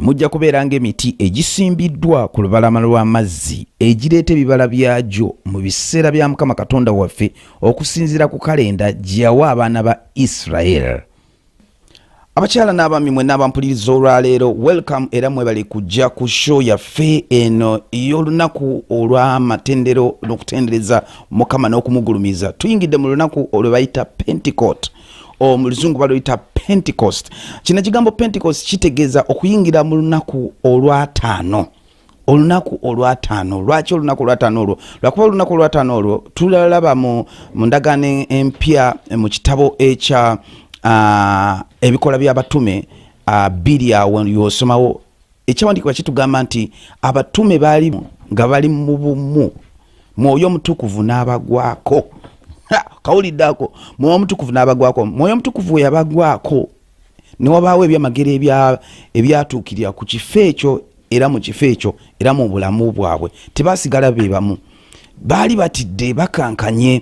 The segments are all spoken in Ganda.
mujja kubeera ng'emiti egisimbiddwa ku lubalama lw'amazzi egireeta ebibala byagyo mu biseera bya mukama katonda waffe okusinziira ku kalenda gye yawa abaana ba isiraeri abakyala n'abaami mwe n'abampuliriza olwaleero welcome era mwebale kujja ku show yaffe eno ey'olunaku olw'amatendero n'okutendereza mukama n'okumugulumiza tuyingidde mu lunaku olwebayita pentecote omuluzungu baluyita pentecost kino ekigambo pentecost kitegeeza okuyingira mu lunaku olwataano olunaku olwataano lwaki olunaku olwataano olwo lwakuba olunaku olwataano olwo tulalaba mu ndagaano empya mu kitabo ekya ebikola byabatume biri awo yosomawo Ekyawandiikibwa kitugamba nti abatume baali nga bali mu bumu, mwoyo omutukuvu n'abagwako. Kawulidde ako, mwoyo omutukuvu n'abagwako. Mwoyo omutukuvu we yabagwako ne wabaawo ebyamagero ebyatuukirira ku kifo ekyo era mu kifo ekyo era mu bulamu bwabwe, tebaasigala be bamu. baali batidde bakankanye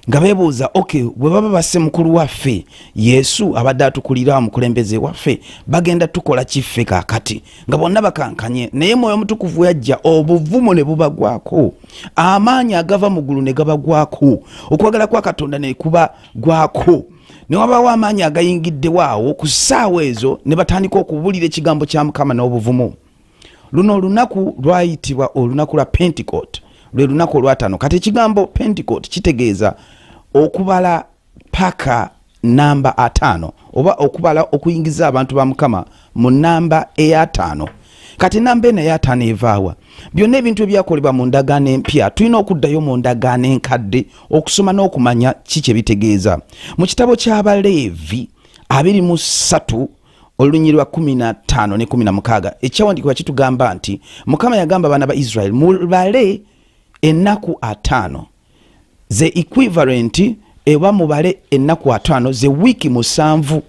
nga bebuuza ok bwe baba basse mukulu waffe yesu abadde atukulira omukulembeze waffe bagenda tukola kiffe kakati nga bonna bakankanye naye mwoyo omutukuvu yajja obuvumu ne bubagwako amaanyi agava mu ggulu ne gabagwako okwagala kwa katonda ne kuba gwako ne wabaawo amaanyi agayingiddewo awo ku ssaawa ezo ne batandika okubuulira ekigambo kya mukama n'obuvumu luno olunaku lwayitibwa olunaku lwa pentecote lwe lunaku olwatano kati ekigambo pentecote kitegeeza okubala paka namba ataano oba okubala okuyingiza abantu ba mukama mu namba eyataano kati namba eno eyataano evaawa byonna ebintu ebyakolebwa mu ndagaano empya tulina okuddayo mu ndagaano enkadde okusoma n'okumanya ki kye bitegeeza mu kitabo ky'abaleevi abiri mu ssatu olunyiri lwa kumi na ttaano ne kumi na mukaaga ekyawandiikibwa kitugamba nti mukama yagamba abaana ba israeli mubale ennaku ataano ze equivalent eba mubale ennaku ataano ze wiiki musanvu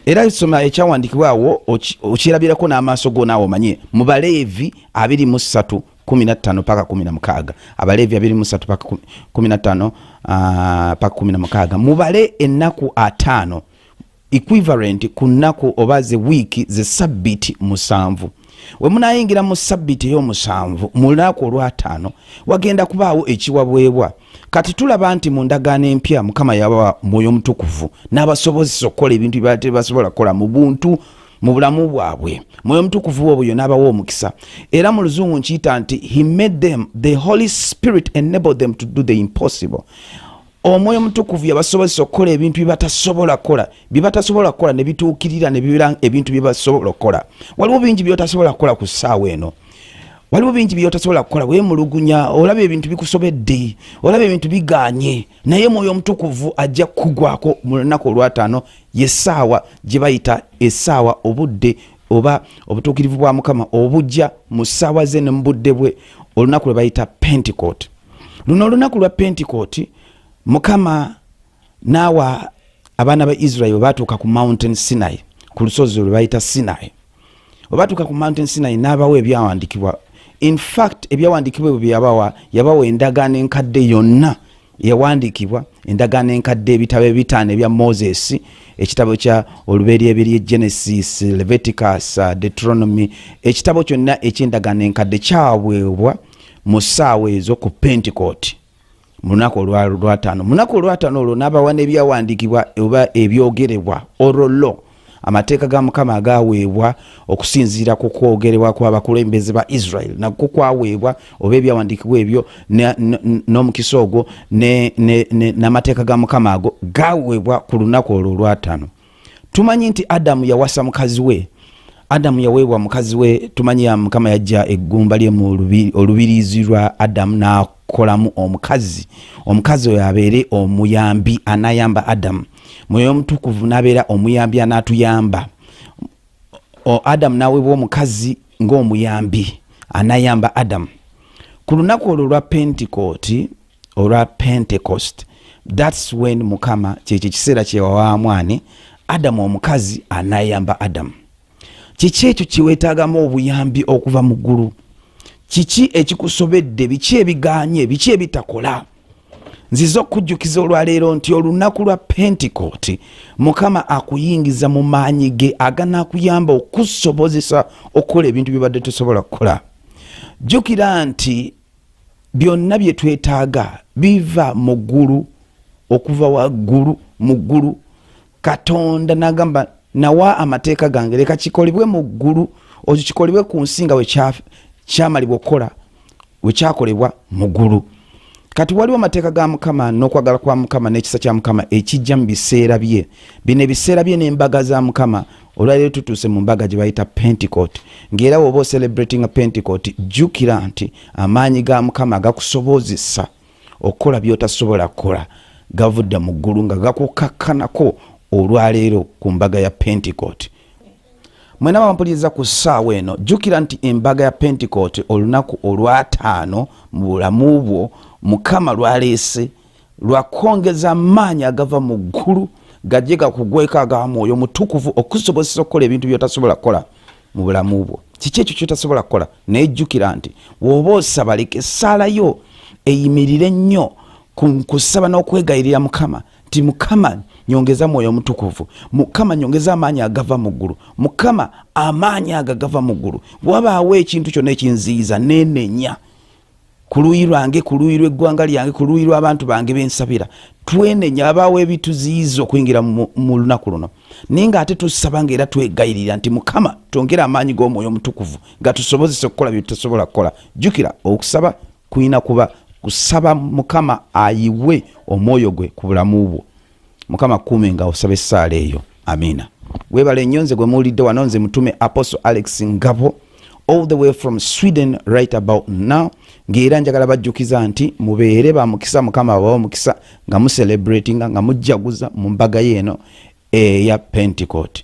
era soma ekyawandiikibwa awo okirabirako n'amaaso go naawe omanye mu baleevi abiri mu ssatu kumi na ttaano paka kumi na mukaaga abaleevi abiri mu ssatu paka kumi na ttaano ah, paka kumi na mukaaga mubale ennaku ataano equivalent ku nnaku oba ze wiiki ze sabbiti musanvu we munayingira mu sabbiti ey'omusanvu mu lunaku olwataano wagenda kubaawo ekiwabwebwa kati tulaba nti mu ndagaano empya mukama yabawa mwoyo omutukuvu n'abasobozesa okukola ebintu byebala tebasobola kukola mu buntu mu bulamu bwabwe mwoyo omutukuvu obwo yona abawa omukisa era mu luzungu nkiyita nti he made them the holy spirit enable them to do the impossible omwoyo omutukuvu yabasobozesa okukola ebintu byebatasobola kukola byebatasobola kukola nebituukirira nebibeera ebintu byebasobola okukola waliwo bingi byotasobola kukola ku ssaawa eno waliwo bingi byotasobola kukola wemulugunya olaba ebintu bikusobedde olaba ebintu biganye naye mwoyo omutukuvu ajja kugwako mu lunaku olwataano yesaawa gyebayita esaawa obudde oba obutuukirivu bwa mukama obujja mu ssaawa ze ne mu budde bwe olunaku lwe bayita pentecote luno olunaku lwa pentecote mukama naawa abaana ba israel batuuka ku mountain sinai ku lusozi lwe bayita sinai webatuuka ku mountain sinai n'abawa ebyawandikibwa infact ebyawandikibwa ebyo byeyabawa yabawa endagaano enkadde yonna yawandiikibwa endagaano enkadde ebitabo ebitaano ebya moses ekitabo kya oluberyeberye genesis leviticus uh, deuteronomy ekitabo kyonna ekyendagaano enkadde kyaweebwa mu ssaawa ezo ku pentecote mu lunaku olwataano mu lunaku olwataano olwo n'abawa n'ebyawandiikibwa oba ebyogerebwa orollo amateeka ga mukama agaweebwa okusinziira ku kwogerebwa kw'abakulembeze ba israel nakwo kwaweebwa oba ebyawandiikibwa ebyo n'omukisa ogwo n'amateeka ga mukama ago gaweebwa ku lunaku olwo olwataano tumanyi nti adamu yawasa mukazi we adamu yaweebwa mukazi we tumanyi mukama yajja eggumba lye mu olubirizi lwa adamu n'akolamu omukazi omukazi oyo abeere omuyambi anayamba adamu mwoyo omutukuvu nabeera omuyambi anatuyamba adamu nawebwa omukazi ngaomuyambi anayamba adamu ku lunaku olwo olwa pentecote olwa pentecost thats when mukama kyekyo ekiseera kyewawamwani adamu omukazi anayamba adamu kiki ekyo kyewetagamu obuyambi okuva mu ggulu kiki ekikusobedde biki ebiganye biki ebitakola nziza okukujjukiza olwaleero nti olunaku lwa pentekooti mukama akuyingiza mu maanyi ge aganaakuyamba okusobozesa okukola ebintu byebadde tosobola kukola jjukira nti byonna bye twetaaga biva mu ggulu okuva waggulu mu ggulu katonda nagamba nawa amateeka gange leka kikolebwe mu ggulu okikolebwe ku nsi nga we kyamalibwa okukola wekyakolebwa mugulu kati waliwo amateeka ga mukama n'okwagala kwa mukama n'ekisa kya mukama ekijja mu biseera bye bino ebiseera bye n'embaga za mukama olwaliro tutuuse mu mbaga gye bayita pentecote ng'era woba ocelebratinga pentecote jjukira nti amaanyi ga mukama gakusobozesa okukola by'otasobola kukola gavudde mu ggulu nga gakukkakkanako olwaleero ku mbaga ya pentecote mwena bampuliriza ku ssaawa eno jjukira nti embaga ya pentekote olunaku olwataano mu bulamu bwo mukama lwaleese lwakwongeza amaanyi agava mu ggulu gajje gakugweko aga mwoyo mutukuvu okusobozesa okukola ebintu byotasobola kukola mu bulamu bwo kiki ekyo kyotasobola kukola naye jjukira nti woba osaba leka essaala yo eyimirire nnyo ku kusaba n'okwegayirira mukama nti mukama nyongeza mwoyo omutukuvu mukama nyongeza amaanyi agava mu ggulu mukama amaanyi ago agava mu ggulu wabaawo ekintu kyonna ekinziyiza nenenya ku luuyi lwange ku luuyi lw'eggwanga lyange ku luuyi lw'abantu bange bensabira twenenya abaawo ebituziyiza okuyingira mu lunaku luno naye nga ate tusaba nga era twegayirira nti mukama twongere amaanyi g'omwoyo omutukuvu gatusobozesa okukola bye tutasobola kukola jjukira okusaba kulina kuba kusaba mukama ayiwe omwoyo gwe ku bulamu bwo mukama kuume nga osaba essaala eyo amiina webale nnyo nze gwe muwulidde wano nze mutume apostle alex ngabo all the way from sweden right about now ngaera njagala bajjukiza nti mubeere bamukisa mukama abawa omukisa nga mucelebratinga nga mujjaguza mu mbaga yeeno eya pentecote